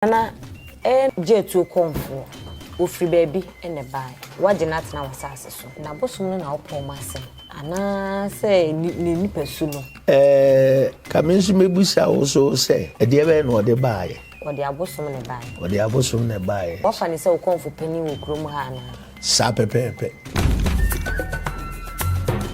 Nana, Ɛyɛ me gye atuo kɔmfoɔ. Wɔfiri baabi na ɛbaeɛ. Woagye no atena w'asase so. N'abosom no na wopɔn mu asɛm. Anaasɛ ne nipasu no. Ɛɛ, ka me nso mɛbisa wo so sɛ, ɛdeɛ bɛn na ɔde baeɛ? Ɔde abosom na ɛbaeɛ. Ɔde abosom na ɛbaeɛ. Woafa no sɛ wo kɔmfo panin wɔ kurom ha anaa? Saa pɛpɛɛpɛ.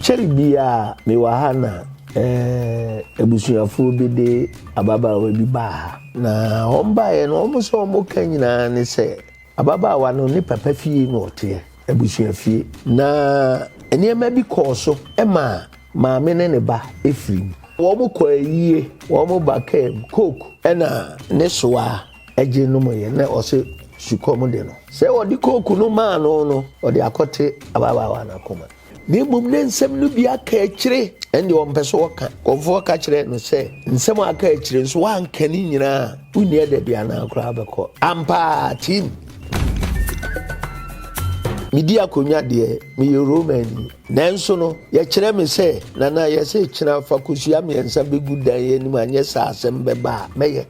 Kyɛre biara mewɔ ha na eh, abusuafoɔ bi de ababaawa bi baa ha. Na wɔn baeɛ no, wɔn sɛ wɔn ka nyinaa ne sɛ ababaawa no ne papa fie na ɔteɛ, abusua fie. Na nneɛma bi kɔɔ so ma maame ne ne ba firim. Wɔn kɔ ayie, wɔn ba kaa mu, coke na ne soa. gye nom yɛ na ɔse sukɔm de no. Sɛ wɔde kooku no maa no no, ɔde akɔte ababaawa no akoma. Na mmom na nsɛm no bi aka akyire, ɛnde ɔmpɛ sɛ ɔka. Kɔmfoɔ ka kyerɛɛ no sɛ, Nsɛm a aka akyire nso, woanka ne nyinaa a, wonni adabi anaa koraa wobɛkɔ? Ampa ara, team! Medi akonnwa deɛ, meyɛ Romani. Nanso no, yɛkyerɛ me sɛ, Nana, yɛse kyena fa kosua mmiɛnsa bɛgu dan yi anim anyɛ saa asɛm bɛba a, mɛyɛ.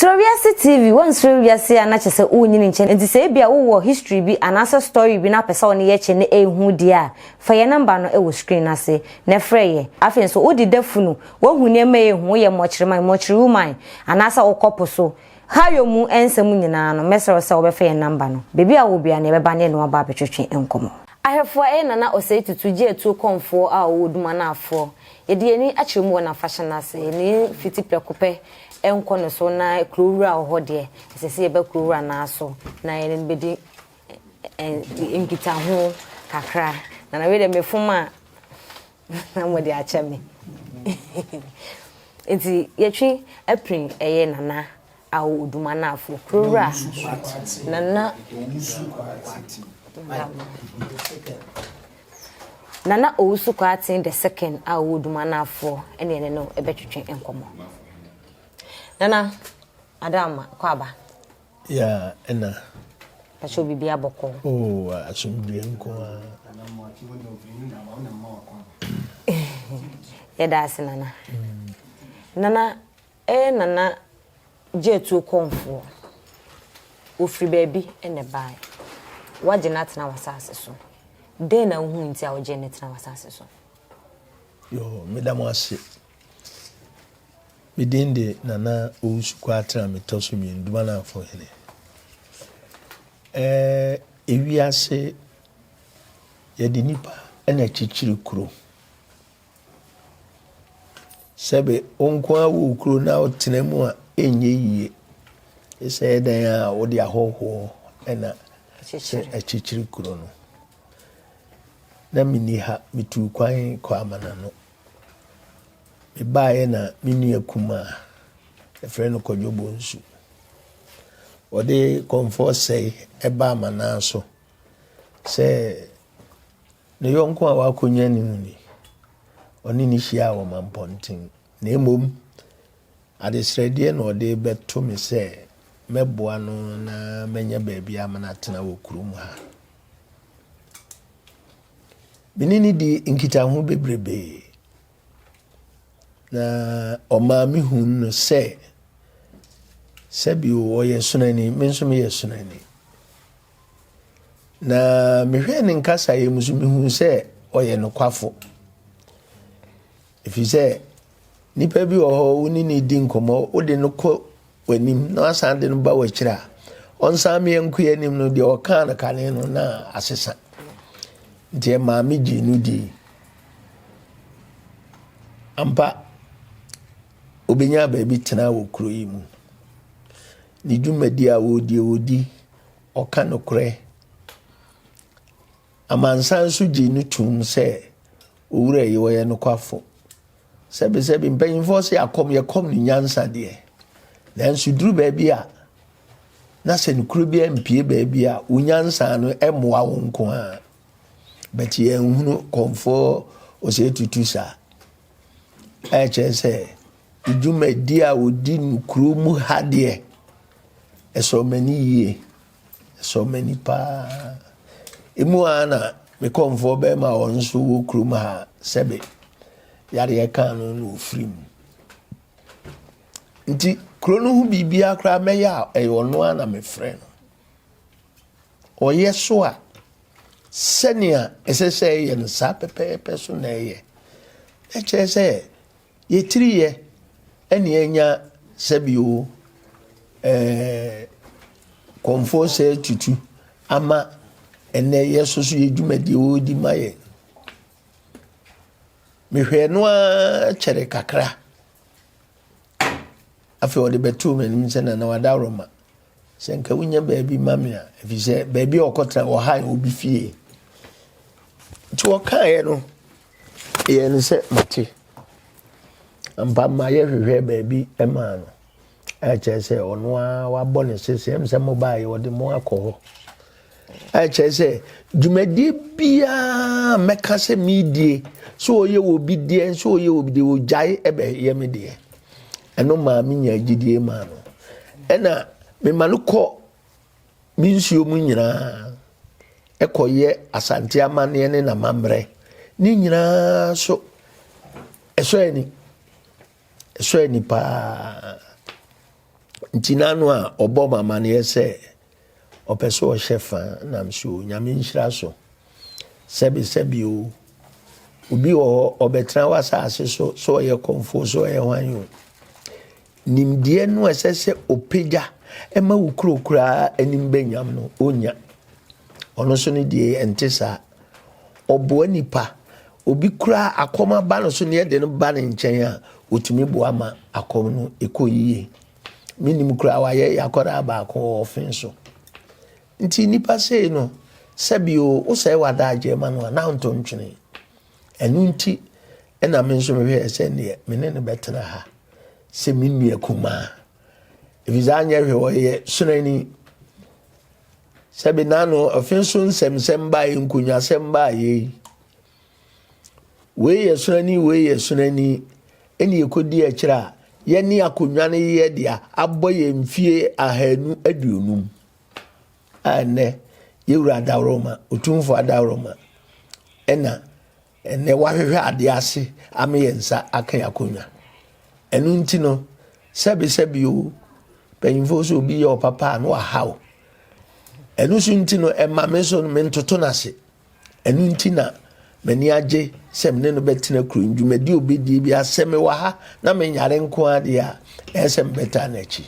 Srɛ Wiase TV, Woansrɛ wiase a na kyerɛ sɛ wonyini nkyɛ. Enti sɛ ebia wowɔ history bi anaasɛ story bi na wopɛ sɛ wo ne yɛ kyɛ na ɛnhu deɛ a, fa yɛn nɔmba no wɔ screen no ase na frɛ yɛn. Afei nso, wode da funu Wohu nneɛma a ehu, woyɛ mmɔkyerema, mmɔkyere woman, anaasɛ wokɔ po so. Hayo mu nsɛm nyinaa no, mɛsrɛ wo sɛ wobɛfa yɛn namba no. Baabi a wowɔ biara no, yɛbɛba na yɛne wo aba abɛtwetwe nkɔmmɔ. Ahwɛfoɔ ɛyɛ Nana Osei Tutu gye atuo kɔmfoɔ a ɔwɔ Dumanafoɔ. Yɛde yɛn ani akyerɛ mu wɔ n'afahyɛ no ase. Yɛn ani fiti prɛko pɛ nkɔ ne so na Kurowura a ɔwɔ hɔ deɛ, ɛsɛ sɛ yɛba Kurowura no ara so na yɛne no bɛdi nkitaho kakra. Nana wei deɛ mefom a. Na mode akyɛ me. Nti yɛtwe aprin ɛyɛ Nana Awo Odumanafo, Kurowura Nana Owusu Kwarteng Nana Owusu Kwarteng the second a ɔwɔ Odumanafo ɛne yɛne no ɛbɛtwetwe nkɔmmɔ. Nana, Ada Ama, kɔ aba. Yeah ɛna. Pacho bibia bɔkɔ. Oh asomdwie nko a. Yɛda ase nana. Nana ɛyɛ nana gyeatuo kɔnfoɔ. Ofiri baabi ɛna ɛbaeɛ. Wagye no atena w'asase so. Dɛn na wohu nti a wogyee no tena w'asase so? Yo meda mo ase. Me din de Nana Owusu Kwatra me tɔ so mmienu Dumananfo hene. Ɛɛ ewiase yɛde nipa na akyikyiri kuro. Sɛbe wo nko ara wɔ kuro na wotena mu a ɛnyɛ yie. Ɛsɛ yɛ dan a wode ahɔhoɔ na akyikyiri kuro no. Na menni ha metu kwan kɔ amanano. Mebaeɛ na me nua kumaa, yɛfrɛ no Kwadwo Bonsu. Ɔde kɔmfoɔ sɛe ɛbaa m'anan so sɛ ne yɔnko a wakɔnya ne mu ni. Ɔne ne hyia wɔ mampɔnten. Na mmom, adesrɛdeɛ na ɔde bɛto me sɛ mɛboa no na mɛnya baabi a menatena wɔ kurom ha. Me ne no dii nkitaho bebrebe, na ɔmaa mehuu no sɛ sɛbio ɔyɛ sonani, me nso meyɛ sonani. Na mehwɛɛ ne nkasaeɛ mu so mehuu sɛ ɔyɛ nokwafo. Ɛfiri sɛ, nipa bi wɔ hɔ wo ne no di nkɔmmɔ, wode no kɔ w'anim na wasan de no ba w'akyiri a, ɔnsan mmea nko anim no deɛ ɔkaa no kane no na asesa. Nti maame gyee no di. Ampa, obɛnya baabi tena wɔ kuro yi mu. Ne dwumadi a wɔdie wɔdi, ɔka nokorɛ. Amansan nso gyee no toom sɛ owura yi ɔyɛ nokwafo. Sɛbesɛbe, mpanyimfo se akɔm yɛ kɔm ne nyansa deɛ, nanso duru baabi a, na sɛ nokorɛ bi ampue baabi a, wo nyansa no mmoa wo nko ara. But yɛnhunu kɔmfoɔ ɔsɛ tutu saa. Ɛkyerɛ sɛ dwumadi a wɔdi no kuro mu ha deɛ, ɛsɔ m'ani yie. Ɛsɔ m'ani paa. Emu ara na me kɔmfoɔ bɛrima a ɔno nso wɔ kurom ha sɛbe yadeɛ kaa no na ɔfiri mu. Nti kuro no ho biribiara koraa mɛyɛ a ɛyɛ ɔno ara na mefrɛ no. Ɔyɛ so a sɛnea ɛsɛ sɛ ɛyɛ no saa pɛpɛɛpɛ so na ɛyɛ. Ɛkyerɛ sɛ Yɛ tiri yɛ ɛne anya sɛbi o ɛɛ kɔmfoɔ sɛ tutu ama ɛnɛ yɛ soso yɛ dwumadie o di ma yɛ. Mehwɛ no ara kyɛre kakra afei ɔde bɛtoo m'anim sɛ na na wada aroma Sɛ nka wonya baabi ma me a, efisɛ baabi a ɔkɔtra wɔ ha yɛ obi fie. Nti ɔkaeɛ no, yɛ no sɛ mate. Ampa ma yɛhwehwɛ baabi maa no. Ɛkyerɛ sɛ ɔno ara wabɔ ne sese, ɛm sɛ mo baeɛ, ɔde mo akɔ hɔ. Ɛkyerɛ sɛ dwumadie biara mɛka sɛ medie sɛ ɔyɛ wɔ bi deɛ nso ɔyɛ wɔ bi deɛ ɔgyae ɛbɛyɛ me deɛ ɛno maa me nya gyidie maa no ɛna mema no kɔ me nsuo mu nyinaa ɛkɔyɛ asante amanneɛ ne n'amammerɛ ne nyinaa so ɛsɔ ani ɛsɔ ani paa nti n'ano a ɔbɔ ma amanneɛ sɛ Ɔpɛ sɛ ɔhyɛ fa nam so o, Nyame nhyira so. Sɛbe sɛbe o, obi wɔ hɔ ɔbɛtena w'asase so, sɛ ɔyɛ kɔmfoɔ, sɛ ɔyɛ hwan o. Nimdeɛ no ɛsɛ sɛ ɔpagya ɛma wo kuro koraa anim bɛnyam no, ɔnya. Ɔno so no deɛ ɛnte saa. Ɔboa nipa, obi koraa akɔm aba no so ne ɛde no ba ne nkyɛn a, ɔtumi boa ma akɔm no ɛkɔ yie. Menim koraa wayɛ yakɔdaa baako wɔ ɔfen so. Nti nipa sei no, sɛbi o, wosɛe w'adagyeɛ ma no a, na nto ntwene. Ɛno nti ɛna me nso mehwɛɛ sɛ neɛ me ne no bɛtena ha sɛ me nua kumaa. Ɛfiri sɛ anyɛ hwɛ ɔyɛ sonani. Sɛbi n'ano ɔfen so nsɛmsɛm baa yi, nkonwasɛm baa yei. Wei yɛ sono ani, wei yɛ sono ani, ɛna yɛkɔdi akyire a, yɛne akonnwa no yɛ dea abɔ yɛn mfie ahanu aduonum a ɛnɛ yɛwura adaworoma, otumfoɔ adaworoma, ɛna ɛnɛ wahwehwɛ adeɛ ase ama yɛn nsa aka yɛn akonnwa. Ɛno nti no, sɛbesɛbe o, mpanyinfoɔ sɛ obi yɛ ɔpapa a na wahaw. Ɛno so nti no, ɛma me so no mentoto no ase. Ɛno nti na m'ani agye sɛ me ne no bɛtena kuro yi dwumadi obɛdie bi asɛ me wɔ ha na menyare nko adeɛ a ɛyɛ sɛ mebɛtaa no akyi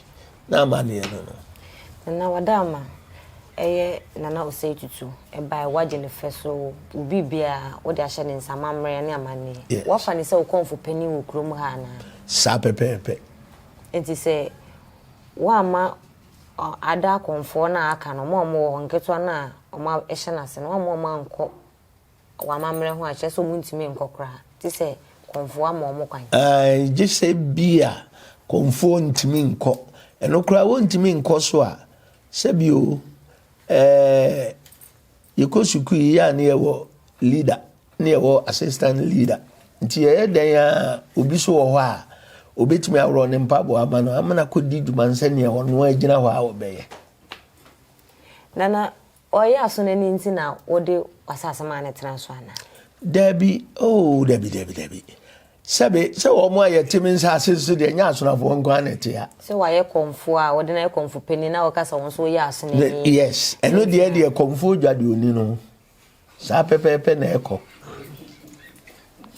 na amanneɛ no no Nana wada ama ɛyɛ Nana Osei Tutu ɛbae wagye ne fɛ so wo biribiara wode ahyɛ ne nsa amammerɛ ne amanneɛ yes. wafa ne sɛ wo kɔmfo panin wɔ kurom ha anaa saa pɛpɛɛpɛ nti sɛ woamma Ada akɔmfoɔ no a aka no, wɔn a wɔwɔ hɔ, nketewa no a wɔahyɛ no ase no, wɔn a wɔankɔ wɔ amammerɛ ho a, kyerɛ sɛ wɔntumi nkɔ koraa, gye sɛ kɔmfoɔ ama wɔn kwan. Ae, gye sɛ ebia kɔmfoɔ ntumi nkɔ. Ɛno koraa wɔntumi nkɔ so a, sɛbi o, ɛɛ, yɛkɔ sukuu yi a na yɛwɔ leader. ne ɛhɔ assistant leader nti ɛyɛ dɛn a obi so wɔ hɔ a obetumi aworɔ ne mpaboa ama no ama no akɔdi dwuma no sɛdeɛ ɔno agyina hɔ a ɔbɛyɛ. Nana, ɔyɛ aso no ani nti na wode w'asase maa no tena so anaa? Dabi, oh dabi dabi dabi. Sɛbe, sɛ wɔn a yɛte me nsase so deɛ ɛnyɛ asonafoɔ nko ara na ɛte ha. Sɛ wɔayɛ kɔmfoɔ a, wɔde no ayɛ kɔmfo panin na wɔka sɛ wɔn nso wɔyɛ aso no ani. Yes, ɛno deɛ deɛ kɔmfoɔ dwa deɛ ɔni no. Saa pɛpɛɛpɛ na ɛkɔ.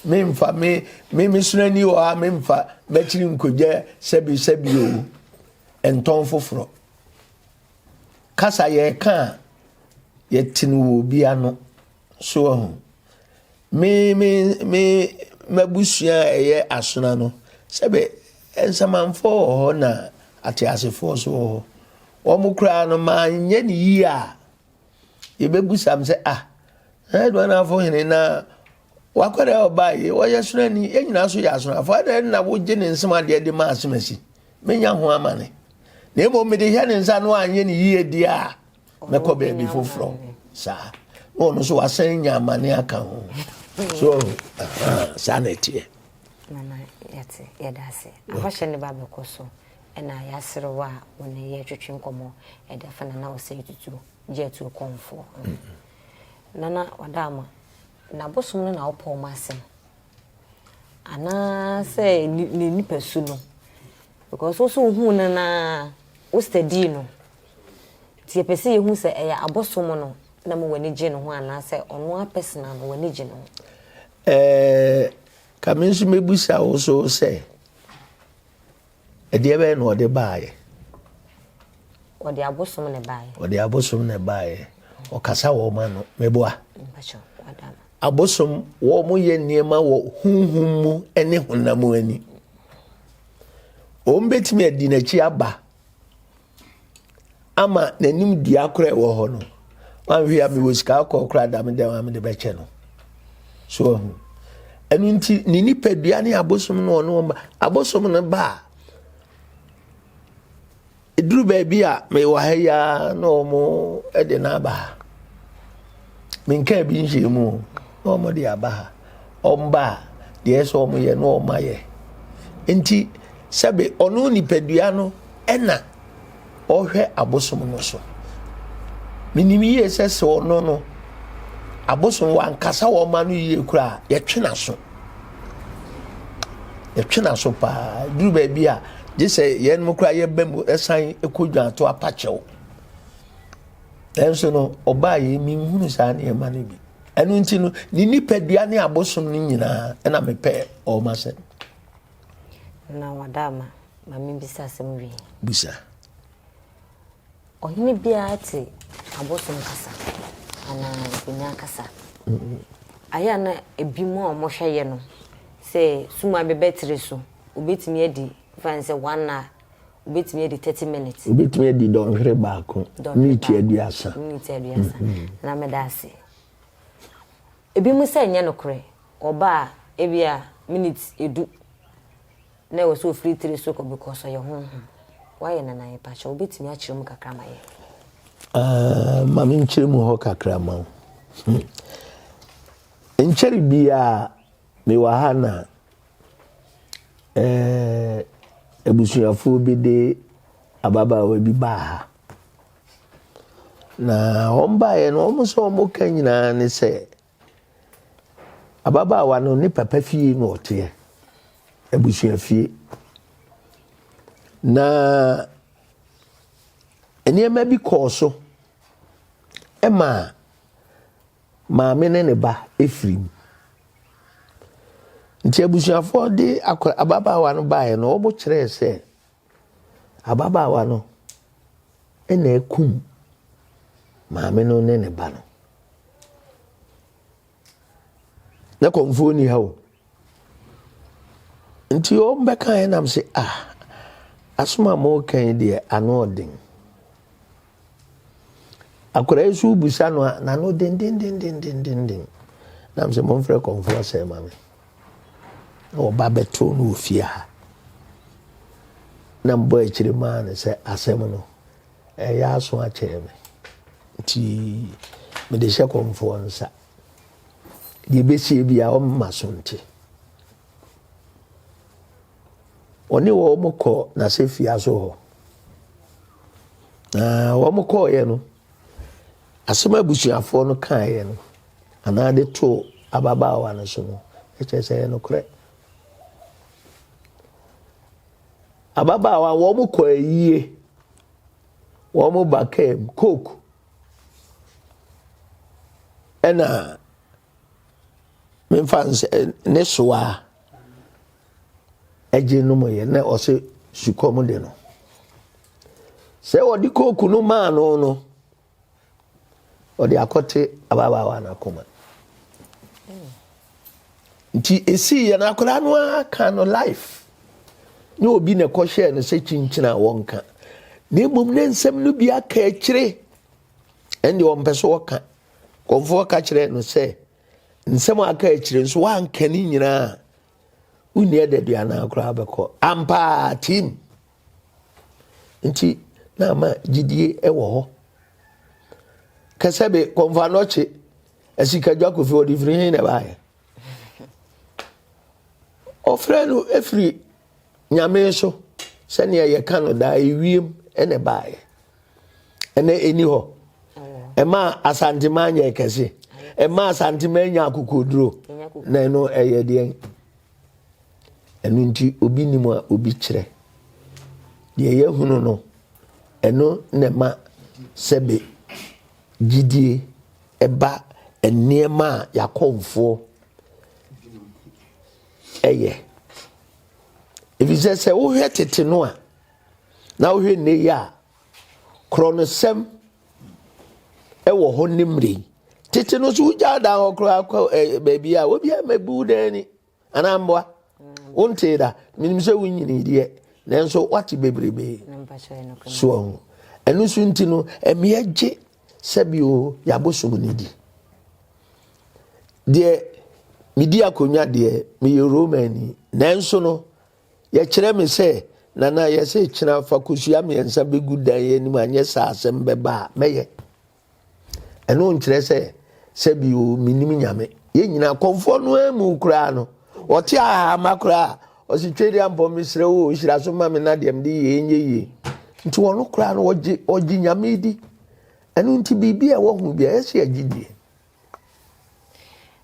Memfa me me me sunani wɔ ha memfa bɛkyiri nkogya sɛbi sɛbi o ntɔn foforɔ. Kasa yɛka a yɛte no wɔ obi ano so ho. Me me me m'abusua a ɛyɛ asona no sɛbi nsamanfoɔ wɔ hɔ na ateasefoɔ so wɔ hɔ. Wɔn koraa no maa nyɛ ne yie a Yɛbɛbusam sɛ, Ah, na Aduanafo hene na wakɔ dɛ ɔbaa yi, ɔyɛ sonani, yɛn nyinaa so yɛ asonafo, adɛn na wogye ne nsɛm adeɛ de ma asomasi? Menya ho amane. Na mmom mede hyɛ ne nsa no anyɛ ne yie deɛ a, mɛkɔ baabi foforɔ. Saa. Na ɔno nso wasan nya amane aka ho. So, saa na ɛteɛ. Mama yɛte yɛda ase. Ahɔhyɛ ne ba bɛkɔ so. Ɛna y'aserew a wo ne yɛ twetwe nkɔmɔ ɛde afa Nana Osei Tutu gye atuo kɔmfoɔ ho. Nana Ɔdaama, n'abosom no na wo pɔw m'asɛm? Anaa sɛ ne nipa su no? Because wo so wo huu no na wo study no. Nti yɛ pɛ sɛ yɛ hu sɛ ɛyɛ abosom no na mo w'ani gye no ho anaa sɛ ɔno a personal no w'ani gye no ho? Ɛɛ, ka me nso mɛbusa wo so sɛ, Ɛdeɛ bɛyɛ na ɔde baeɛ? Ɔde abosom na ɛbaeɛ. Ɔde abosom na ɛbaeɛ. Ɔkasa wɔ wɔn ano. Meboa. Abosom wɔn yɛ nneɛma wɔ huhum mu ne honam ani. Wɔn bɛtumi adi n'akyi aba. ama n'anim dua koro a ɛwɔ hɔ no wanhwɛ a mewɔ sika kɔɔ kora dame dɛm a mede bɛkyɛ no so ɔho ɛno nti ne nipadua ne abosom no ɔno ɔma abosom no ba a ɛduru baabi a mewɔ ha yi ara na ɔmo de no aba ha menkaa bi nhyɛɛ mu na wɔn de aba ha wɔn ba a deɛ ɛsɛ wɔn yɛ na wɔn ayɛ nti sɛbe ɔno nipadua no ɛna ɔhwɛ abosom no so menim yie sɛ sɛ ɔno no abosom wankasa wɔn ma no yie koraa yɛtwe n'aso yɛtwe n'aso paa duru baabi a gye sɛ yɛn mu koraa yɛbɛ mu ɛsan kɔ dwanto apakyɛw. Nanso no, ɔbaa yei, menhunu saa nneɛma no bi. Ɛno nti no, ne nipadua ne abosom no nyinaa, ɛna mepɛ ɔm asɛm. Na wada ama, ma mebisa asɛm wie. Bisa. Ɔhene biara te abosom kasa anaa nkonyaa kasa. Ayɛ na ebi mu a wɔhwɛ yɛ no sɛ suma bɛbɛtere so, obetumi adi fa sɛ wɔn na Wobɛtumi adi thirty minutes. Wobɛtumi adi dɔnhwere baako, miniti aduasa. Miniti aduasa. Na meda ase. Ebinom sɛ nyɛ nokorɛ, wɔba a, ebi a miniti edu na ɛwɔ sɛ ofiri tiri so kɔ because ɔyɛ honhom. Woayɛ no anaa? Yɛpa kyɛw, wobɛtumi akyerɛ mu kakra ma yɛn? Ah, ma me nkyerɛ mu hɔ kakra ma wo. Hmm. Nkyɛre biara mewɔ ha na Abusuafoɔ bi de ababaawa bi baa ha, na wɔn baeɛ no wɔn nso wɔn ka nyinaa ne sɛ, ababaawa no ne papa fie na ɔteɛ, abusua fie. Na nneɛma bi kɔɔ so ma . Maame ne ne ba firi mu. Nti abusuafoɔ de akɔ ababaawa no baeɛ no, wɔkyerɛɛ sɛ ababaawa no na akum maame no ne ne ba no. Na kɔmfoɔ ni ha o. Nti wɔbɛkaeɛ na mese ah asɛm a moreka yi deɛ ano ɔden. Akwadaa yi nso wobisa no a n'ano dendendendendenden. Na mese momfrɛ kɔmfoɔ sɛ ma me. Na wɔba bɛtoo no wɔ fie ha. Na mbɔ akyire maa no sɛ asɛm no ɛyɛ aso akyerɛ me. Nti mede hyɛ kɔmfoɔ nsa. deɛ ɛbɛsie biara ɔmma so nte ɔne wɔn kɔ n'asɛfia so hɔ na wɔn kɔɔeɛ no asɛm abusuafoɔ no kaeɛ no anaa de too ababaawa no so no ɛkyɛ sɛ ɛyɛ nokorɛ ababaawa wɔn kɔ ayie wɔn ba kaa mu coke ɛna memfa nsɛ ne soa ɛgye nom yɛ na ɔsɛ sukɔm de no sɛ ɔde kooku no maa no no ɔde akɔte ababaawa no akoma. nti esii yɛ no akwadaa no ara ka no life ne obi na ɛkɔhyɛɛ no sɛ kyinkyini a wɔnka na mmom ne nsɛm no bi aka akyire ɛnde ɔmpɛ so ɔka kɔmfoɔ ka kyerɛ no sɛ nsɛm aka akyire nso wanka ne nyinaa wonni adaduanaa koraa bɛkɔ ampaa tim nti na ama gyidie wɔ hɔ kɛsɛ be kɔnfa nɔkye asikadwa kofi ɔde firi hin na ɛbaayɛ ɔfrɛ no efiri nyame so sɛnea yɛka no daa ewiem ɛna ɛbaayɛ ɛna ɛni hɔ ɛma asantema nyɛ kɛse ɛma asantema nya akokoduro na ɛno ɛyɛ deɛ. Ɛno nti obi nim a obi kyerɛ. Deɛ yɛhunu no, ɛno na ɛma sɛbe gyidie ɛba nneɛma a yɛakɔmfoɔ ɛyɛ. Ɛfiri sɛ sɛ wohwɛ tete no a, na wohwɛ nne yi a, korɔnosɛm ɛwɔ hɔ ne mmerɛ yi. Tete no so wogyaa dan hɔ koraa kɔ baabi a, obiara mɛbu dan ni. anaa mboa wontee da menim sɛ wonyini deɛ nanso wate bebrebe soɔ ho ɛno so nti no ɛmeɛ gye sɛbio yɛabosom no di deɛ medi akonnwa deɛ meyɛ romani nanso no yɛkyerɛ me sɛ nana yɛsɛ kyena fa kosua mmiɛnsa bɛgu dan yɛ anim anyɛ saa asɛm bɛba a mɛyɛ ɛno nkyerɛ sɛ sɛbi o menim nyame yɛn nyinaa kɔmfoɔ no amu koraa no ɔte ahama koraa ɔsi twɛ di ampɔ mesrɛ o hyira so ma me na deɛ mede yɛ ɛnyɛ yie nti wɔn koraa no ɔgye ɔgye nyame di ɛno nti biribi a ɛwɔ ho bi a ɛsɛ agye die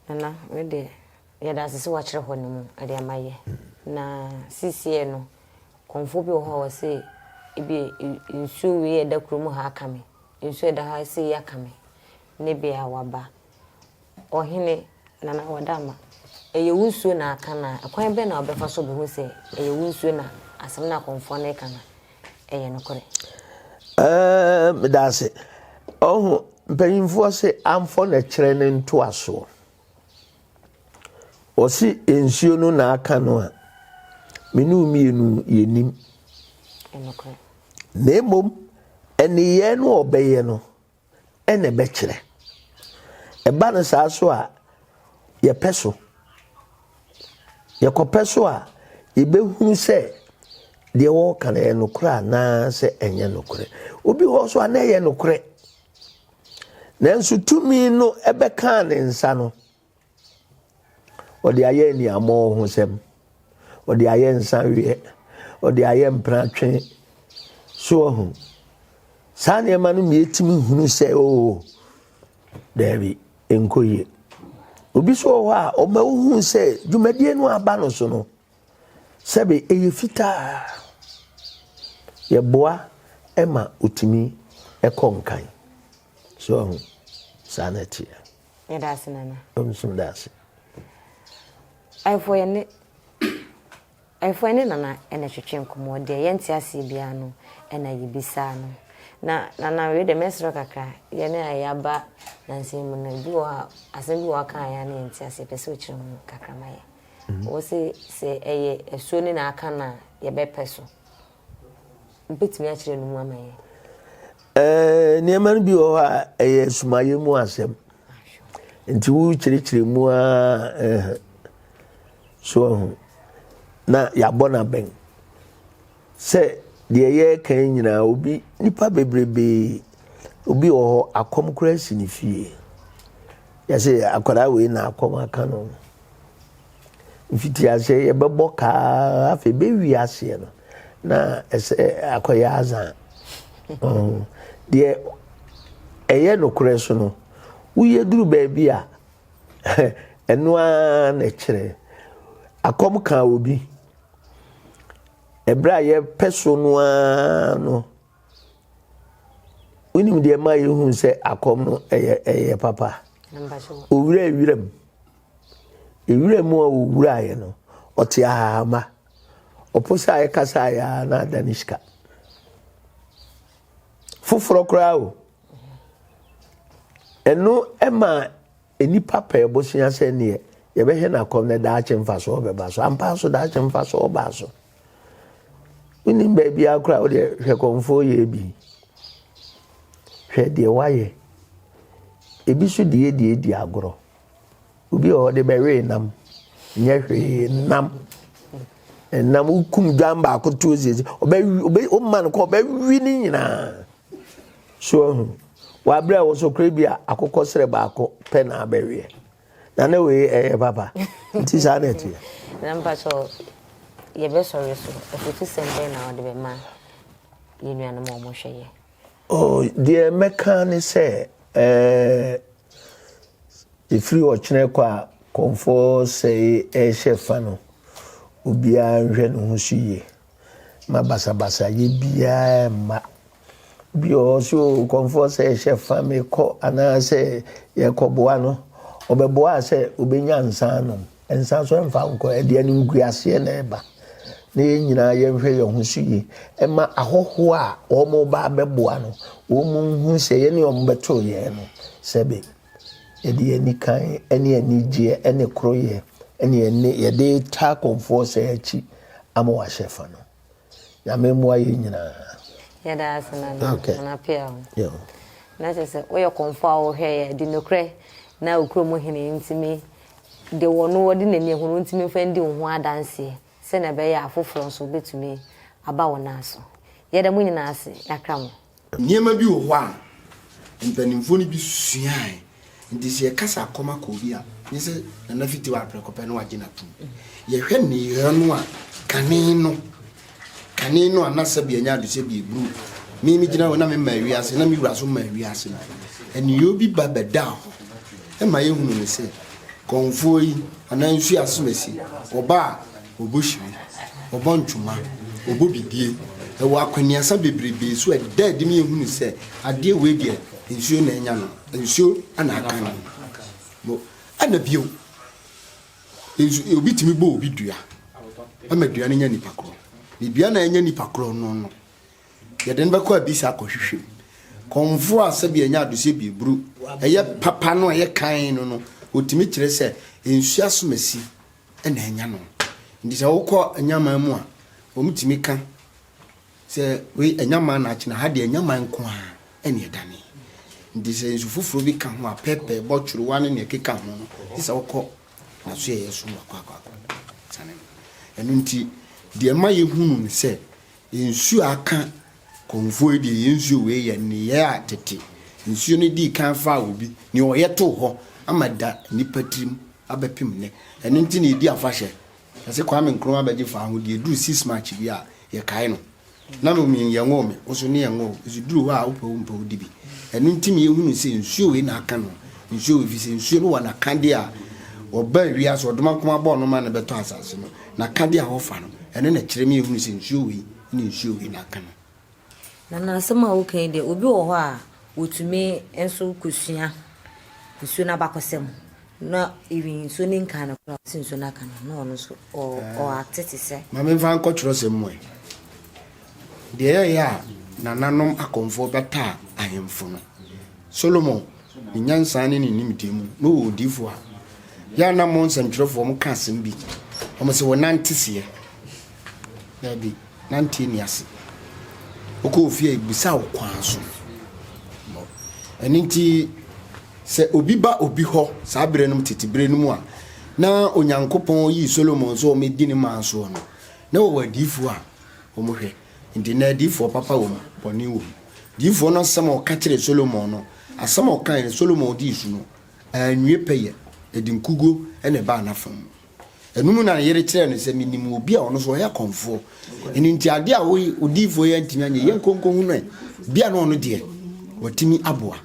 Nana me deɛ yɛda ase sɛ wakyerɛ hɔ no mu ɛde ama yɛ na sisiɛ no kɔnfo bi wɔ hɔ a wɔse ebi nsuo wei a ɛda kurom ha aka me nsuo ɛda ha sɛ yi aka me ne bi a waba ɔhene nana wada ama ɛyɛ wo nsuo na aka na ɛkwan bɛn na wɔbɛfa so bɛhu sɛ ɛyɛ wo nsuo na asɛm no a kɔnfoɔ no reka no ɛyɛ nokorɛ. Aah meda ase. Ɔho mpanyinfoɔ se amfɔ na kyerɛ ne ntoasoɔ. Ɔse nsuo no na aka no a, me ne wo mmienu yɛnim. Na mmom, nneyɛɛ no ɔbɛyɛ no, na ɛbɛkyerɛ. Ɛba no saa so a, yɛpɛ so. Yɛkɔpɛ so a, yɛbɛhunu sɛ deɛ wɔreka no ɛyɛ nokorɛ anaasɛ ɛnyɛ nokorɛ. Obi hɔ so a na ɛyɛ nokorɛ. Nanso tumi no ɛbɛkaa ne nsa no, Ɔde ayɛ aniammɔ ho sɛm. Ɔde ayɛ nsaweɛ. Ɔde ayɛ mpratwe. So ɔho. Saa nneɛma no mmiɛ tumi hunu sɛ oo oh, daabi nkɔ yie. Obi so wɔ hɔ a ɔma wohu sɛ dwumadie no aba no so no sɛbe ɛyɛ fitaa. Yɛboa ɛma otumi ɛkɔ nkan. So ɔho. Saa na ɛteɛ. Yɛda ase nana. Nso da ase. Ayɛfo ɛne ayɛfo ɛne nana ɛna twetwe nkɔmɔ deɛ yɛnte aseɛ biara no ɛna yɛbisa no na nana wei deɛ mɛsrɛ kakra yɛne a yɛaba nansa mu no ebi wɔ a asɛm bi wɔ aka a yɛa ne yɛnte aseɛ pɛ sɛ ɔkyerɛ mu kakra ma yɛ wɔ se sɛ ɛyɛ asuo ne na aka no a yɛbɛpɛ so Wubetumi akyerɛ no mu ama yɛn? Ɛɛ, nneɛma no bi wɔ hɔ a ɛyɛ sumayɛ mu asɛm. Nti wokyerɛkyerɛ mu ara ɛɛ so ho na yɛabɔ no abɛn sɛ deɛ yɛreka nyinaa obi nipa bebrebe obi wɔ hɔ akɔm koraa si ne fie yɛsɛ akwadaa wei na akɔm aka no. mfitiaseɛ yɛbɛbɔ kaa afei bɛwie aseɛ no na ɛsɛ akɔyɛ azan deɛ ɛyɛ nokorɛ so no woyɛ duru baabi a ɛno ara na ɛkyerɛ akɔm kaa obi ɛberɛ a yɛpɛ so no ara no Wonim deɛ ɛma yɛhu sɛ akɔm no ɛyɛ ɛyɛ papa. Owura ewura mu. Ewura mu a owura yɛ no, ɔte ahahama. Ɔpo sɛ ayɛ kasa ayɛ a na ada ne sika. Foforɔ koraa o. Ɛno ɛma Nnipa pɛɛ bosea sɛ neɛ yɛbɛhwɛ no akɔm na daakye mfasoɔ bɛba so. Ampa ara so daakye mfasoɔ baa so. Wonim baabiara koraa wodeɛ hwɛ kɔmfoɔ yɛ bi. Hwɛ deɛ woayɛ. Ebi so deɛ deɛ di agorɔ. Obi a ɔde bɛwee nam nyɛ hwee nam nam wokum dwan baako tuo siesie ɔbɛwi ɔbɛ ɔma no kɔ ɔbɛwi ne nyinaa. So woahu? Wɔ aberɛ a ɛwɔ so koraa bi a akokɔ serɛ baako pɛ na abɛweɛ. Na na wei ɛyɛ papa. Nti saa na ɛteɛ. Na mpakyɛ yɛbɛsɔre so afutusɛm bɛn na wode bɛma yɛn nuanom a wɔhwɛ yɛ? Oh, deɛ mɛka ne sɛ ɛɛ ɛfiri ɔkyerɛ kɔ a kɔmfoɔ sɛe ɛhyɛ fa no obiara nhwɛ ne ho so yie. ma basabasayɛ biara mma. Bi wɔ hɔ so kɔmfoɔ sɛ hyɛ fa me kɔ anaasɛ yɛkɔboa no. Ɔbɛboa sɛ obɛnya nsa anom. Nsa so ɛmfa nkɔ, ɛde animguaseɛ na ɛba. Na yɛn nyinaa yɛnhwɛ yɛn ho so yie. Ɛma ahɔhoɔ a wɔn ba abɛboa no, wɔn hu sɛ yɛne wɔn bɛto yɛn no sɛbe. Yɛde anikan ne anigyeɛ ne koroyɛ ne yɛne yɛde retaa akɔmfoɔ sɛ akyi ama wɔahyɛ fa no. Nyame mmoa yɛn nyinaa. Yɛda ase nana okay. nana pia ho. Yeah. Na kyerɛ sɛ woyɛ kɔmfo a wohwɛ yɛ de nokorɛ na okuro mu hene ntumi de wɔ no wɔde n'ani ahunu ntumi mfa ndi wo ho adanseɛ sɛnea ɛbɛyɛ afoforɔ nso bɛtumi aba wo nan so. Yɛda mo nyinaa ase yɛakra mo. Nneɛma bi wɔ hɔ a mpanimfoɔ no bi suae nti sɛ yɛkasa akɔm akɔ obi a nye sɛ nana fiti wɔ aprɛko pɛ no wagye no atom yɛhwɛ nneyɔɛ no a kane no kane no a na sɛbi ɛnyɛ ade sɛbi ɛburu me me gyina hɔ na mema wiase na me wura so ma wiase no nneyɔɛ bi ba bɛda hɔ ɛma yɛhunu no sɛ kɔmfoɔ yi anaa nsu asomasi ɔba a Wɔbɔ hyire, wɔbɔ ntwoma, wɔbɔ bibie, ɛwɔ akwannuasa bebrebee so a ɛda adi ma yɛhunu sɛ adeɛ wei deɛ nsuo na anya no, nsuo na aka no. Mo, ɛna bio, nsu, obi tumi bɔ obi dua, ɛma dua no nya nipa korɔ. Ne dua na anya nipa korɔ no no, yɛde no bɛkɔ abisa akɔhwehwɛ mu. Kɔmfoɔ a sɛbi ɛnyɛ adoseɛ bi eburu, ɛyɛ papa no ɛyɛ kan no no, ɔtumi kyerɛ sɛ nsuo asomasi na anya no. Nti sɛ wokɔ anyaman mu a, wɔtumi ka sɛ wei anyaman na akyena ha deɛ anyaman nko a ɛne ɛdane. Nti sɛ nsu foforɔ bi ka ho a, pɛpɛ, bɔtworowa ne nea ɛkeka ho no, gye sɛ wokɔ n'asoɛeɛ so wakɔ akɔ akɔ sane no. Ɛno nti, deɛ ɛma yɛhunu ne sɛ Yɛn nsuo aka, kɔmfoɔ yi deɛ yɛn nsuo wei yɛ nneyɛɛ a tete nsuo no dii kan faa obi, nea ɔyɛ too hɔ ama ada nnipa tirim abɛpem nnɛ. Ɛno nti na yɛdi afahyɛ. Ɛsɛ Kwame Nkrumah bɛgye faa ho deɛ ɛduru six March bi a, yɛkae no. Na me mean yɛnwoo me, wo nso ne yɛnwoo, nso duru hɔ a wopɛ wo mpɛ wo di bi. Ɛno nti na yɛhunu sɛ nsuo wei na aka no, nsuo wei, ɛfiri sɛ nsuo no wɔ n'akadeɛ a wɔbaa wiase, ɔdomankoma bɔɔ no ma no bɛtɔ asase no. Na ka bi a wɔfa no, ɛno na ɛkyerɛ ma yɛhunu sɛ nsuo wei ne nsuo wei na aka no. Na n'asɛm a ɔka yi deɛ, obi wɔ hɔ a ɔtumi nso kɔsua nsuo no abakɔsɛm na even nsuo no nkaa no koraa, ɔte nsuo no aka no a, na ɔno nso ɔate te sɛ. Ma memfa nkɔ twerɛsɛm mu ɛ. Deɛ ɛyɛeɛ a nananom akɔmfoɔ bɛtaa ahemfo no, Solomon Ne nyansa ne ne nimdeɛ mu na ɔwɔ odiyifo a. Yɛ a na mo nsɛmtwerɛfoɔ mo ka asɛm bi, na mo se wɔ nante seɛ. Daabi, nanteɛ ni ase. Wokɔ ofie a ebisa wo kwan so. Ɛno nti, sɛ obi ba obi hɔ saa berɛ no mu tete berɛ no mu a, na Onyankopɔn yii Solomon sɛ ɔmɛdi ne man soɔ no, na wɔwɔ adiyifoɔ a wɔhwɛ. Enti nnɛ adiyifoɔ papa wɔ mu, bɔne wɔ mu. Diyifoɔ no asɛm a ɔka kyerɛɛ Solomon no, asɛm a ɔkaeɛ no, Solomon dii so no, anwie pɛyɛ, ɛde nkuguo na ɛbaa n'afa mu. Ɛno mu na ne yere kyerɛɛ no sɛ, Menim obi a ɔno nso ɔyɛ kɔmfoɔ. Ɛno nti, adeɛ a wo odiyifoɔ yi antumi anyɛ, yɛnkɔ nkɔhunu ɛ bi a na ɔno deɛ, watumi aboa.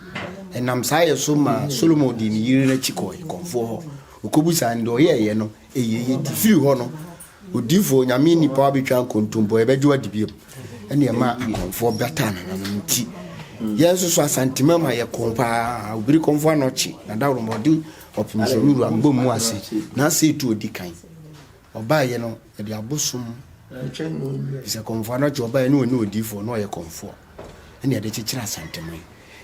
Ɛnam saa yɛ so maa Solomon dii ne yere no akyi kɔeɛ kɔmfoɔ hɔ. Ɔkɔbisaa no, deɛ ɔyɛeɛ no, ɛyɛeɛ. Enti firi hɔ no, Odiyifo Onyame nnipa abɛtwa nkontompo, yɛbɛgye adi bio. Ɛne ɛma akɔmfoɔ bataa nananom nti. Yɛn nso so Asantema ma yɛ kɔn paa, obiri kɔmfo anɔkye, na daworo ma ɔde ɔpem sɛ wura mbɔ mu ase, na asɛ etu odi kan. Ɔbaa yɛ no, yɛde abosom, bisɛ kɔmfo anɔkye ɔbaa yɛ no, ɔne odiyifo, ɔno ɔyɛ kɔmfoɔ. Ɛne yɛde kyekyere Asantema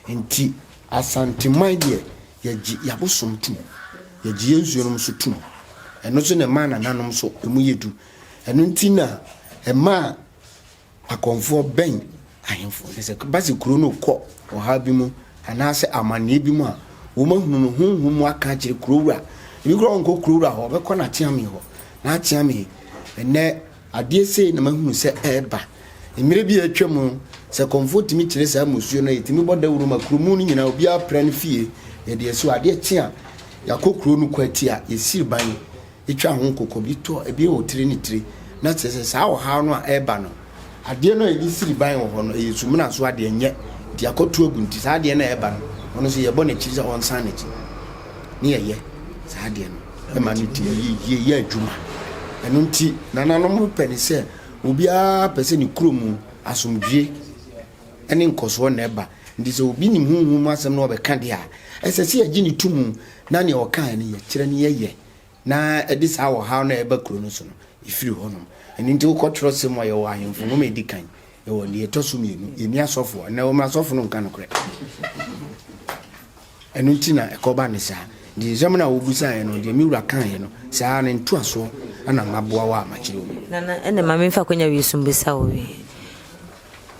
yi nti. Asanteman deɛ yɛgye y'abosom tum, yɛgye yɛn nsuo nom nso tum. Ɛno nso na ɛmaa nananom nso emu yɛ du. Ɛno nti na ɛmaa Akɔmfoɔ bɛn ahemfo. Sɛ ɛba sɛ kuro no rekɔ ɔhaw bi mu anaasɛ amanneɛ bi mu a, wɔn ahunu no, honhom mu aka akyerɛ kurowura. Ebi koraa ɔnkɔ kurowura hɔ, ɔbɛkɔ n'akyeame hɔ. N'akyeame, ɛnnɛ Adeɛ sei na mahunu sɛ ɛreba. Mmerɛ bi a atwam no, sɛ kɔmfoɔ tumi kyere saa mmusuo no a, yɛtumi bɔ dawuro ma kuromu no nyinaa, obiara pra ne fie. Yɛde asi hɔ, adeɛ kye a, yɛakɔ kuro no kwati a, yɛsiri ban, yɛtwa ho nkokɔ, bi tɔ, ebi wɔ tire ne tire. Na kyerɛ sɛ, saa ɔhaw no a ɛreba no, adeɛ no a yɛde siri ban wɔ hɔ no, ɛyɛ sumina so adeɛ, ɛnyɛ, nti yɛakɔto agu, nti saa adeɛ no a ɛreba no, ɔno nso yɛbɔ no akyiri sɛ ɔnsan n'akyi, ne yɛyɛ saa adeɛ no. ma no di yiye yɛ adwuma. Ɛno nti, nananom no pɛ ne sɛ obiara pɛ sɛ ne kurom asomdwoe ne nkɔsoɔ na ɛba. Nti sɛ obi nim honhom mu asɛm na ɔbɛka deɛ a, ɛsɛ sɛ yɛgye no to mu na nea ɔkaeɛ no yɛkyerɛ no yɛyɛ na ɛde saa ɔhaw no a ɛba kuro no so no, ɛfiri hɔnom. Ɛno nti wokɔ twerɛsɛm mu a, yɛwɔ Ahemfo Nwoma a ɛdi kan. Ɛwɔ nea ɛtɔ so mmienu, yɛnni asɔfo a, na wɔn asɔfo no nka nokorɛ. Ɛno nti na ɛkɔba ne saa. Nti nsɛm na wobusaeɛ no, deɛ me wura kaeɛ no, saa ne ntoasoɔ ɛna maboa wɔ a makyerɛ wo. Nana, ɛnna ma memfa akwanya wei so mbisa wo wei.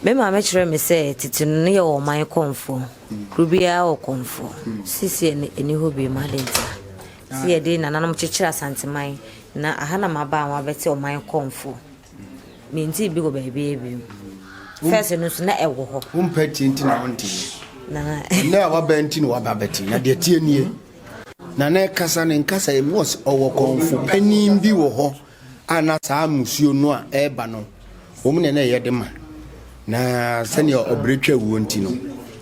Me maame kyerɛɛ me sɛ tete no ne yɛ ɔman kɔmfoɔ. Hmm. Kuro biara wɔ kɔmfoɔ. Hmm. Sisi ɛni hɔ bi mu ade nti. Ah. Sɛ yɛde nananom kyekyere Asanteman na aha na maba a wɔabɛte ɔman kɔmfoɔ. Menntee bi wɔ baabiara bio. First no nso na ɛwɔ hɔ. Wompɛ tie nti na wonteeɛ. Na Ɛnɛ a waba nti na waba bɛte. Na deɛ tie nie. Na na ɛkasa ne nkasa emu ɔs ɔwɔ kɔmfo panin bi wɔ hɔ a na saa musuo no a ɛreba no wɔn na na ɛyɛ de ma. Na sɛnea ɔbrɛ twa wuo nti no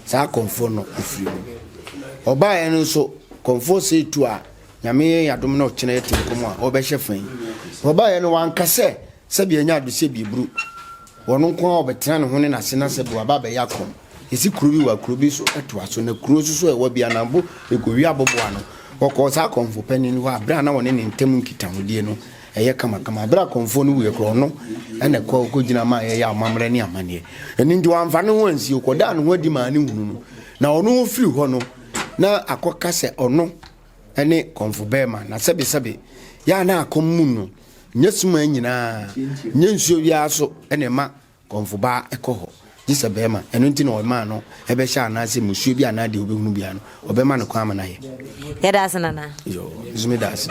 saa kɔmfo no ɛfiri mu. Ɔbaeɛ no nso kɔmfo sei tu a Nyame yɛ yadom na ɔkyena yɛte nkɔmɔ a ɔbɛhyɛ fa yi. Ɔbaeɛ no wanka sɛ sɛbi ɛnyɛ ado sɛ bieburu. Wɔn nko ara ɔbɛtena ne ho ne n'ase na sɛbi waba abɛyɛ akɔm. Yɛsi kuro bi wɔ akuro bi so ɛtoa so na kuro nso so ɛwɔ bi anambo ɛkɔwie aboboa no. Ɔkɔɔ saa akɔmfo panin hɔ a berɛ a na wɔne ne ntam nkitahodie no ɛyɛ kamakama. Berɛ akɔmfoɔ no wuiɛ koraa ɔno ɛna ɛkɔ kɔgyina maa yɛyɛ amammerɛ ne amanneɛ. Ɛno nti wamfa ne ho ansie ɔkɔdaa ne ho adi maa ne hunu no na ɔno ɔfiri hɔ no na akɔka sɛ ɔno ne kɔmfo bɛɛma na sɛbesɛbe yɛ a na akɔm mu no nyɛ sumaa nyinaa nyɛ nsuo wiaa so na ɛma kɔmfo baa ɛkɔ hɔ gye sɛ bɛɛma ɛno nti na ɔmaa no ɛbɛhyɛ anaasɛ musuo bi anaa deɛ ɔbɛhunu biara no ɔbɛma no kwan ama no ayɛ yɛda ase nana yo nso meda ase